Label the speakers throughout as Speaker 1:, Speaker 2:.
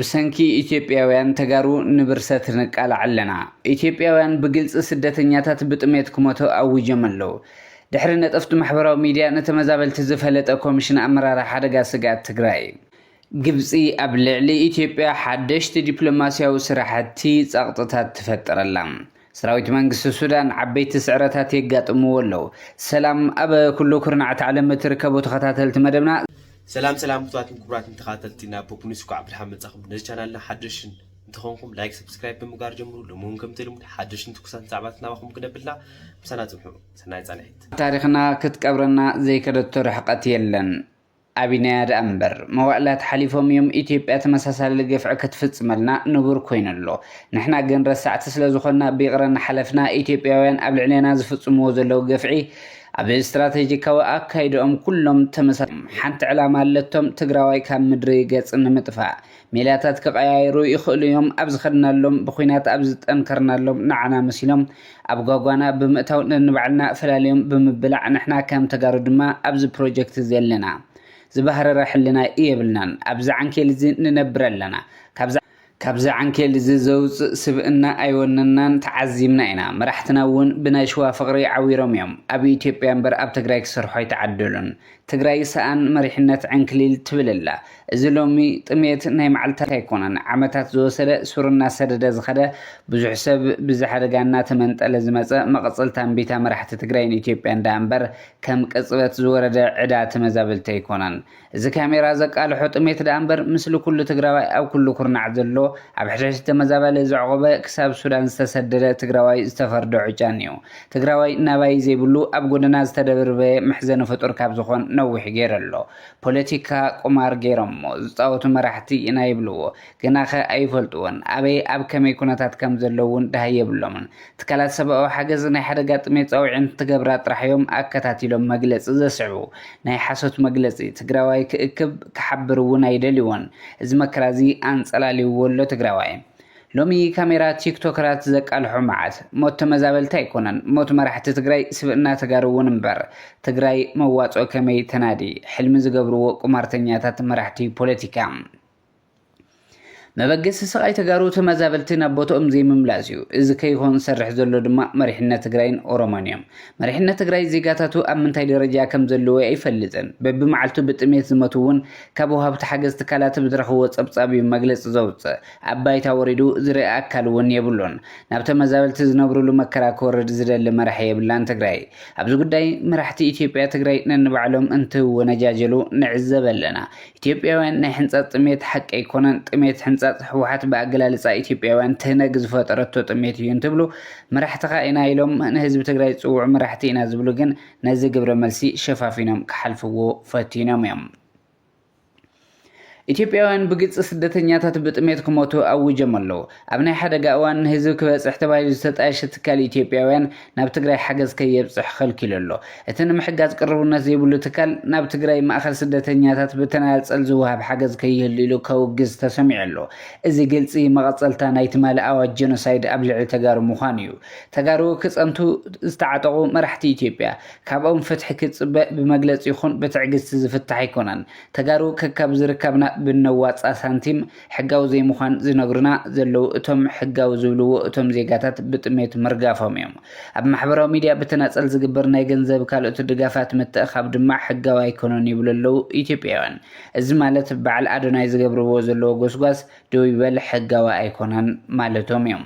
Speaker 1: ብሰንኪ ኢትዮጵያውያን ተጋሩ ንብርሰት ንቃላዕ ኣለና። ኢትዮጵያውያን ብግልፂ ስደተኛታት ብጥሜት ክሞቱ ኣዊጀም ኣለው። ድሕሪ ነጠፍቲ ማሕበራዊ ሚድያ ንተመዛበልቲ ዝፈለጠ ኮሚሽን ኣመራርሓ ሓደጋ ስግኣት ትግራይ። ግብፂ ኣብ ልዕሊ ኢትዮጵያ ሓደሽቲ ዲፕሎማሲያዊ ስራሕቲ ፀቕጥታት ትፈጥር ኣላ። ሰራዊት መንግስቲ ሱዳን ዓበይቲ ስዕረታት የጋጥምዎ ኣለው። ሰላም ኣብ ኩሉ ኩርናዓት ዓለም እትርከቡ ተኸታተልቲ መደብና። ሰላም ሰላም
Speaker 2: ፍትዋትን ክቡራትን ተኸታተልቲ ናብ ፖፕ ኒውስ እንኳዕ ብድሓን መጻኹም ነዚ ቻናልና ሓደሽን እንተኾንኩም ላይክ ሰብስክራይብ ብምግባር ጀምሩ ሎሚ እውን ከምቲ ልሙድ ሓደሽን ትኩሳትን ዛዕባታት ናባኹም ክነብልና ምሳና ጽንሑ ሰናይ ጻንሒት ታሪኽና
Speaker 1: ክትቀብረና ዘይከደቶ ርሕቀት የለን። ኣቢናያ ደኣ እምበር መዋእላት ሓሊፎም እዮም ኢትዮጵያ ተመሳሳሊ ግፍዒ ክትፍጽመልና ንቡር ኮይኑ ኣሎ ንሕና ግን ረሳዕቲ ስለ ዝኾንና ብይቕረ እናሓለፍና ኢትዮጵያውያን ኣብ ልዕሌና ዝፍጽምዎ ዘለዉ ግፍዒ ኣብ ስትራተጂካዊ ኣካይድኦም ኩሎም ተመሳሳሊ እዮም ሓንቲ ዕላማ ኣለቶም ትግራዋይ ካብ ምድሪ ገጽ ንምጥፋእ ሜላታት ክቐያይሩ ይኽእሉ እዮም፣ ኣብ ዝኸድናሎም ብኹናት ኣብ ዝጠንከርናሎም ንዓና መሲሎም ኣብ ጓጓና ብምእታው ነንባዕልና ፈላልዮም ብምብላዕ ንሕና ከም ተጋሩ ድማ ኣብዚ ፕሮጀክት እዚ ኣለና ዝባህረረ ሕልና የብልናን ኣብዚ ዓንኬል እዚ ንነብር ኣለና ካብዚ ካብዚ ዓንኬል እዚ ዘውጽእ ስብእና ኣይወነናን ተዓዚብና ኢና መራሕትና እውን ብናይ ሽዋ ፍቕሪ ዓዊሮም እዮም ኣብ ኢትዮጵያ እምበር ኣብ ትግራይ ክሰርሑ ኣይተዓደሉን ትግራይ ሰኣን መሪሕነት ዕንክሊል ትብል ኣላ። እዚ ሎሚ ጥምየት ናይ መዓልታት ኣይኮነን፣ ዓመታት ዝወሰደ ሱር እናሰደደ ዝኸደ ብዙሕ ሰብ ብዚ ሓደጋ እናተመንጠለ ዝመፀ መቐፀልታ እምቢታ መራሕቲ ትግራይን ኢትዮጵያን ደኣ እምበር ከም ቅፅበት ዝወረደ ዕዳ ተመዛበልቲ ኣይኮነን። እዚ ካሜራ ዘቃልሖ ጥምየት ደኣ እምበር ምስሊ ኩሉ ትግራዋይ ኣብ ኩሉ ኩርናዕ ዘሎ ኣብ ሕሸሽቲ ተመዛባሊ ዘዕቖበ ክሳብ ሱዳን ዝተሰደደ ትግራዋይ ዝተፈርደ ዑጫን እዩ። ትግራዋይ ናባይ ዘይብሉ ኣብ ጎደና ዝተደብርበ መሕዘኒ ፍጡር ካብ ዝኾን ነዊሕ ገይሩ ኣሎ። ፖለቲካ ቁማር ገይሮሞ ዝፃወቱ መራሕቲ ኢና ይብልዎ። ገናኸ ኣይፈልጥዎን። ኣበይ ኣብ ከመይ ኩነታት ከም ዘለዉ እውን ደሃይ የብሎምን። ትካላት ሰብኣዊ ሓገዝ ናይ ሓደጋ ጥሜት ፃውዒት እንትገብራ ጥራሕ እዮም ኣከታቲሎም መግለፂ ዘስዕቡ። ናይ ሓሶት መግለፂ ትግራዋይ ክእክብ ክሓብር እውን ኣይደልይዎን። እዚ መከራ እዚ ኣንፀላልይዎ ኣሎ ትግራዋይ። ሎሚ ካሜራ ቲክቶከራት ዘቃልሖ መዓት ሞት ተመዛበልቲ ኣይኮነን ሞት መራሕቲ ትግራይ ስብእና ተጋሩ እውን እምበር ትግራይ መዋፅኦ ከመይ ተናዲ ሕልሚ ዝገብርዎ ቁማርተኛታት መራሕቲ ፖለቲካ መበገሲ ስቃይ ተጋሩ ተመዛበልቲ ናብ ቦትኦም ዘይምምላስ እዩ እዚ ከይኾን ዝሰርሕ ዘሎ ድማ መሪሕነት ትግራይን ኦሮሞን እዮም መሪሕነት ትግራይ ዜጋታቱ ኣብ ምንታይ ደረጃ ከም ዘለዎ ኣይፈልጥን በቢመዓልቱ ብጥሜት ዝመቱ እውን ካብ ወሃብቲ ሓገዝ ትካላት ብዝረኽብዎ ፀብፃብ እዩ መግለፂ ዘውፅእ ኣብ ባይታ ወሪዱ ዝርኢ ኣካል እውን የብሉን። ናብ ተመዛበልቲ ዝነብሩሉ መከራ ክወርድ ዝደሊ መራሒ የብላን ትግራይ። ኣብዚ ጉዳይ መራሕቲ ኢትዮጵያ ትግራይ ነንባዕሎም እንትወነጃጀሉ ንዕዘብ ኣለና። ኢትዮጵያውያን ናይ ሕንፃፅ ጥሜት ሓቂ ኣይኮነን ጥሜት ሕንፃፅ ህወሓት ብኣገላልፃ ኢትዮጵያውያን ትህነግ ዝፈጠረቶ ጥሜት እዩ እንትብሉ መራሕትኻ ኢና ኢሎም ንህዝቢ ትግራይ ዝፅውዑ መራሕቲ ኢና ዝብሉ ግን ነዚ ግብረ መልሲ ሸፋፊኖም ክሓልፍዎ ፈቲኖም እዮም። ኢትዮጵያውያን ብግጽ ስደተኛታት ብጥሜት ክሞቱ ኣዊጀም ኣለዉ። ኣብ ናይ ሓደጋ እዋን ንህዝቢ ክበጽሕ ተባሂሉ ዝተጣየሸ ትካል ኢትዮጵያውያን ናብ ትግራይ ሓገዝ ከየብጽሕ ከልኪሉ ኣሎ። እቲ ንምሕጋዝ ቅርቡነት ዘይብሉ ትካል ናብ ትግራይ ማእከል ስደተኛታት ብተናጸል ዝወሃብ ሓገዝ ከይህሉ ኢሉ ከውግዝ ተሰሚዑ ኣሎ። እዚ ግልጺ መቐጸልታ ናይ ትማሊ ኣዋጅ ጀኖሳይድ ኣብ ልዕሊ ተጋሩ ምዃኑ እዩ። ተጋሩ ክጸንቱ ዝተዓጠቑ መራሕቲ ኢትዮጵያ ካብኦም ፍትሒ ክትፅበ ብመግለፂ ይኹን ብትዕግስቲ ዝፍታሕ ኣይኮነን። ተጋሩ ከካብ ዝርካብና ብነዋፃ ሳንቲም ሕጋዊ ዘይምዃን ዝነግሩና ዘለዉ እቶም ሕጋዊ ዝብልዎ እቶም ዜጋታት ብጥሜት ምርጋፎም እዮም። ኣብ ማሕበራዊ ሚድያ ብተናፀል ዝግበር ናይ ገንዘብ ካልኦት ድጋፋት ምትእኻብ ድማ ሕጋዊ ኣይኮነን ይብሉ ኣለዉ ኢትዮጵያውያን። እዚ ማለት በዓል ኣዶናይ ዝገብርዎ ዘለዉ ጎስጓስ ደው ይበል ሕጋዊ ኣይኮነን ማለቶም እዮም።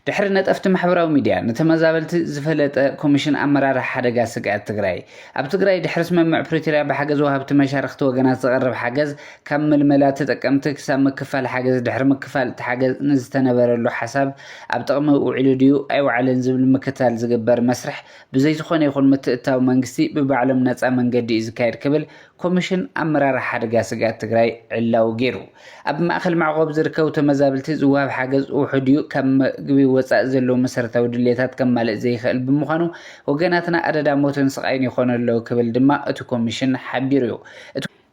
Speaker 1: ድሕሪ ነጠፍቲ ማሕበራዊ ሚድያ ንተመዛበልቲ ዝፈለጠ ኮሚሽን ኣመራርሓ ሓደጋ ስግኣት ትግራይ ኣብ ትግራይ ድሕሪ ስምምዕ ፕሪቶርያ ብሓገዝ ወሃብቲ መሻርኽቲ ወገናት ዝቐርብ ሓገዝ ካብ ምልመላ ተጠቀምቲ ክሳብ ምክፋል ሓገዝ ድሕሪ ምክፋል እቲ ሓገዝ ንዝተነበረሉ ሓሳብ ኣብ ጥቕሚ ውዒሉ ድዩ ኣይወዓለን ዝብል ምክትታል ዝግበር መስርሕ ብዘይ ዝኾነ ይኹን ምትእትታው መንግስቲ ብባዕሎም ነፃ መንገዲ እዩ ዝካየድ ክብል ኮሚሽን ኣመራርሓ ሓደጋ ስግኣት ትግራይ ዕላዊ ገይሩ። ኣብ ማእከል መዕቆቢ ዝርከቡ ተመዛብልቲ ዝወሃብ ሓገዝ ውሑድ'ዩ፣ ካብ መግቢ ወጻኢ ዘለዎም መሰረታዊ ድሌታት ከማልእ ዘይክእል ብምዃኑ ወገናትና ኣደዳ ሞትን ስቓይን ይኾኑ ኣለዉ ክብል ድማ እቲ ኮሚሽን ሓቢሩ'ዩ።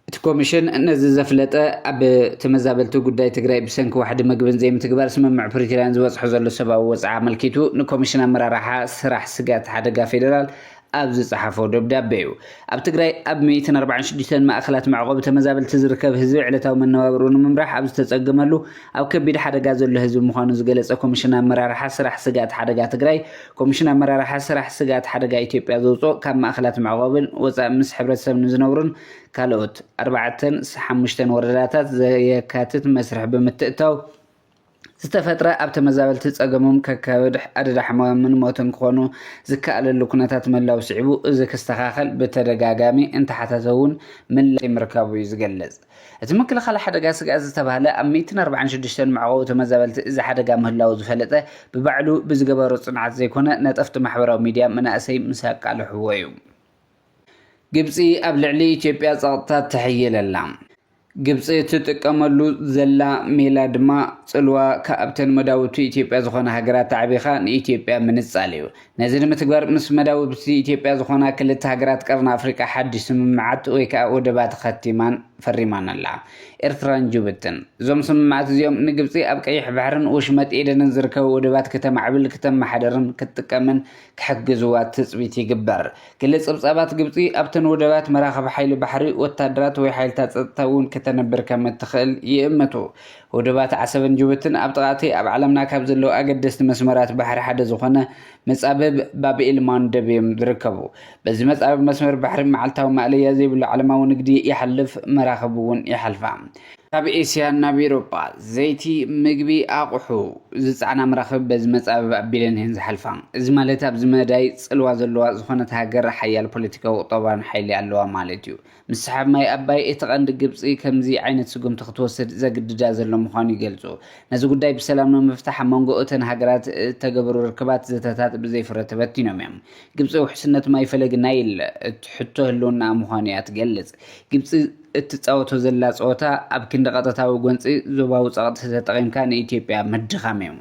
Speaker 1: እቲ ኮሚሽን ነዚ ዘፍለጠ፣ ኣብ ተመዛበልቲ ጉዳይ ትግራይ ብሰንኪ ዋሕዲ መግብን ዘይምትግባር ስምምዕ ፕሪቶርያን ዝበጽሖ ዘሎ ሰብኣዊ ወጽዓ ኣመልኪቱ ንኮሚሽን ኣመራርሓ ስራሕ ስጋት ሓደጋ ፌደራል ኣብ ዝጸሓፎ ደብዳቤ'ዩ። ኣብ ትግራይ ኣብ ሚእትን ኣርባዓን ሽዱሽተን ማእከላት መዕቖቢ ተመዛበልቲ ዝርከብ ህዝቢ ዕለታዊ መነባብርኡ ንምምራሕ ኣብ ዝተጸገመሉ ኣብ ከቢድ ሓደጋ ዘሎ ህዝቢ ምዃኑ ዝገለጸ ኮሚሽን ኣመራርሓ ስራሕ ስግኣት ሓደጋ ትግራይ ኮሚሽን ኣመራርሓ ስራሕ ስግኣት ሓደጋ ኢትዮጵያ ዘውጽኦ ካብ ማእከላት መዕቖብን ወጻእ ምስ ሕብረተሰብ ንዝነብሩን ካልኦት ኣርባዕተን ሓሙሽተን ወረዳታት ዘየካትት መስርሕ ብምትእትታው ዝተፈጥረ ኣብ ተመዛበልቲ ፀገሞም ከከብድ፣ ኣደዳ ሕማምን ሞትን ክኾኑ ዝከኣለሉ ኩነታት ምህላው ስዒቡ እዚ ክስተኻኸል ብተደጋጋሚ እንተሓተተ እውን ምላሽ ዘይምርካቡ እዩ ዝገልፅ። እቲ ምክልኻል ሓደጋ ስግኣት ዝተብሃለ ኣብ ሚእትን ኣርብዓን ሽዱሽተን መዕቆቢ ተመዛበልቲ እዚ ሓደጋ ምህላው ዝፈለጠ ብባዕሉ ብዝገበሮ ፅንዓት ዘይኮነ ነጠፍቲ ማሕበራዊ ሚድያ መናእሰይ ምስ ኣቃልሕዎ እዩ። ግብፂ ኣብ ልዕሊ ኢትዮጵያ ፀቕጥታት ተሕይል ኣላ። ግብፂ እትጥቀመሉ ዘላ ሜላ ድማ ፅልዋ ካብተን መዳውብቲ ኢትዮጵያ ዝኾና ሃገራት ተዓቢኻ ንኢትዮጵያ ምንፃል እዩ። ነዚ ንምትግባር ምስ መዳውብቲ ኢትዮጵያ ዝኾና ክልተ ሃገራት ቀርኒ ኣፍሪቃ ሓዱሽ ስምምዓት ወይ ከዓ ወደባት ኸቲማን ፈሪማን ኣላ። ኤርትራን ጁብትን። እዞም ስምምዓት እዚኦም ንግብፂ ኣብ ቀይሕ ባሕርን ወሽመጥ ኤደንን ዝርከቡ ወደባት ክተማዕብል፣ ክተመሓድርን ክትጥቀምን፣ ክሕግዝዋ ትጽቢት ይግበር። ገለ ጸብጻባት ግብጺ ኣብተን ወደባት መራኽብ ሓይሊ ባሕሪ ወታደራት ወይ ሓይልታት ጸጥታ እውን ከተንብር ከም እትኽእል ይእምቱ። ወደባት ዓሰብን ጅቡትን ኣብ ጥቓ'ቲ ኣብ ዓለምና ካብ ዘለዉ ኣገደስቲ መስመራት ባሕሪ ሓደ ዝኾነ መጻብብ ባብኤል ማንደብ እዮም ዝርከቡ። በዚ መጻብብ መስመር ባሕሪ መዓልታዊ ማእለያ ዘይብሉ ዓለማዊ ንግዲ ይሓልፍ፣ መራኽብ እውን ይሓልፋ። ካብ ኤስያ ናብ ኤሮጳ ዘይቲ፣ ምግቢ፣ ኣቑሑ ዝጸዕና መራኽብ በዚ መጻብብ ኣቢለን እየን ዝሓልፋ። እዚ ማለት ኣብዚ መዳይ ጽልዋ ዘለዋ ዝኾነት ሃገር ሓያል ፖለቲካዊ ቁጠባዊን ሓይሊ ኣለዋ ማለት እዩ። ምስሓብ ማይ ኣባይ እቲ ቀንዲ ግብጺ ከምዚ ዓይነት ስጉምቲ ክትወስድ ዘግድዳ ዘሎ ምዃኑ ይገልጹ። ነዚ ጉዳይ ብሰላም ንምፍታሕ ኣብ መንጎ እተን ሃገራት እተገበሩ ርክባት ዘተታት ብዘይ ፍረ ተበቲኖም እዮም። ግብጺ ውሕስነት ማይ ፈለግ ናይል ሕቶ ህልውናኣ ምዃኑ እያ ትገልጽ። ግብጺ እትጻወቶ ዘላ ጸወታ ኣብ ክንዲ ቀጥታዊ ጎንጺ፣ ዞባዊ ጸቕጢ ተጠቒምካ ንኢትዮጵያ ምድኻም'ዩ።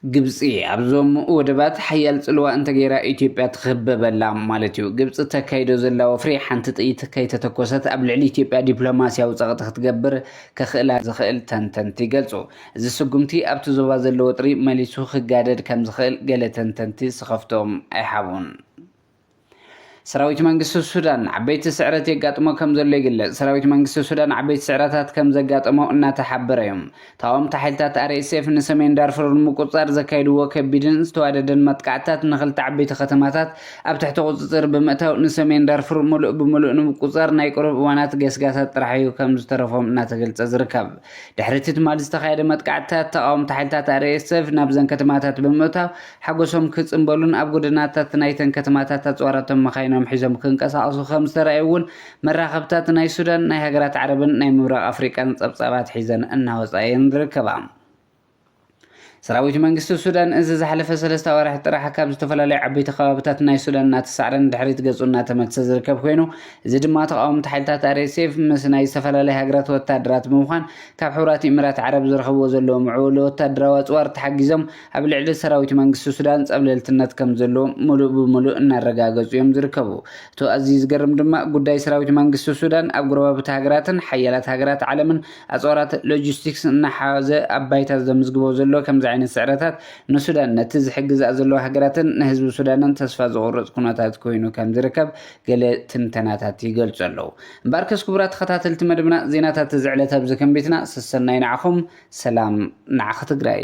Speaker 1: ግብጺ ኣብዞም ወደባት ሓያል ጽልዋ እንተገይራ ኢትዮጵያ ትኽበበላ ማለት'ዩ። ግብጺ እተካይዶ ዘላ ወፍሪ ሓንቲ ጥይት ከይተተኮሰት ኣብ ልዕሊ ኢትዮጵያ ዲፕሎማስያዊ ጸቕጢ ክትገብር ከኽእላ ዝኽእል ተንተንቲ ይገልጹ። እዚ ስጉምቲ ኣብቲ ዞባ ዘሎ ወጥሪ መሊሱ ክጋደድ ከምዝኽእል ገለ ተንተንቲ ስኸፍትኦም ኣይሓቡን። ሰራዊት መንግስቲ ሱዳን ዓበይቲ ስዕረት የጋጥሞ ከም ዘሎ ይግለጽ። ሰራዊት መንግስቲ ሱዳን ዓበይቲ ስዕረታት ከም ዘጋጠሞ እናተሓበረ እዩ። ተቓወምቲ ሓይልታት RSF ንሰሜን ዳርፉር ንምቁጽጻር ዘካየድዎ ከቢድን ዝተዋደደን መጥቃዕትታት ንኽልተ ዓበይቲ ከተማታት ኣብ ትሕቲ ቁጽጽር ብምእታው ንሰሜን ዳርፉር ምሉእ ብምሉእ ንምቁጽጻር ናይ ቁሩብ እዋናት ገስጋሳት ጥራሕ እዩ ከም ዝተረፎም እናተገልጸ ዝርከብ። ድሕሪ እቲ ትማሊ ዝተኻየደ መጥቃዕትታት ተቓወምቲ ሓይልታት RSF ናብዘን ከተማታት ብምእታው ሓጎሶም ክጽንበሉን ኣብ ጎደናታት ናይተን ከተማታት ኣጽዋራቶም መኻይኖም ሒዞም ክንቀሳቐሱ ከም ዝተራእዩ'ውን መራኸብታት ናይ ሱዳን፣ ናይ ሃገራት ዓረብን ናይ ምብራቕ ኣፍሪቃን ጸብጻባት ሒዘን እናወጻ እየን ዝርከባ። ሰራዊት መንግስቲ ሱዳን እዚ ዝሓለፈ ሰለስተ ኣዋርሕ ጥራሕ ካብ ዝተፈላለዩ ዓበይቲ ከባብታት ናይ ሱዳን እናተሳዕረ ንድሕሪት ገጹ እናተመልሰ ዝርከብ ኮይኑ እዚ ድማ ተቓወምቲ ሓይልታት RSF ምስ ናይ ዝተፈላለዩ ሃገራት ወታሃደራት ብምዃን ካብ ሕቡራት ኢሚራት ዓረብ ዝረኽብዎ ዘለዉ ምዕቡል ወታደራዊ ኣጽዋር ተሓጊዞም ኣብ ልዕሊ ሰራዊት መንግስቲ ሱዳን ፀብለልትነት ከም ዘሎ ሙሉእ ብሙሉእ እናረጋገፁ እዮም ዝርከቡ። እቶ ኣዝዩ ዝገርም ድማ ጉዳይ ሰራዊት መንግስቲ ሱዳን ኣብ ጎረባብቲ ሃገራትን ሓያላት ሃገራት ዓለምን ኣፅዋራት ሎጂስቲክስ እናሓዘ ኣብ ባይታ ዘምዝግቦ ዘሎ ከምዚ ዓይነት ስዕረታት ንሱዳን ነቲ ዝሕግዝኣ ዘለዋ ሃገራትን ንህዝቢ ሱዳንን ተስፋ ዘቑርፅ ኩነታት ኮይኑ ከም ዝርከብ ገለ ትንተናታት ይገልፁ ኣለው። እምበኣርከስ ክቡራት ተኸታተልቲ መደብና ዜናታት እዚ ዕለት ኣብዚ ከንቢትና ሰሰናዩ ንዓኹም ሰላም ንዓኺ ትግራይ።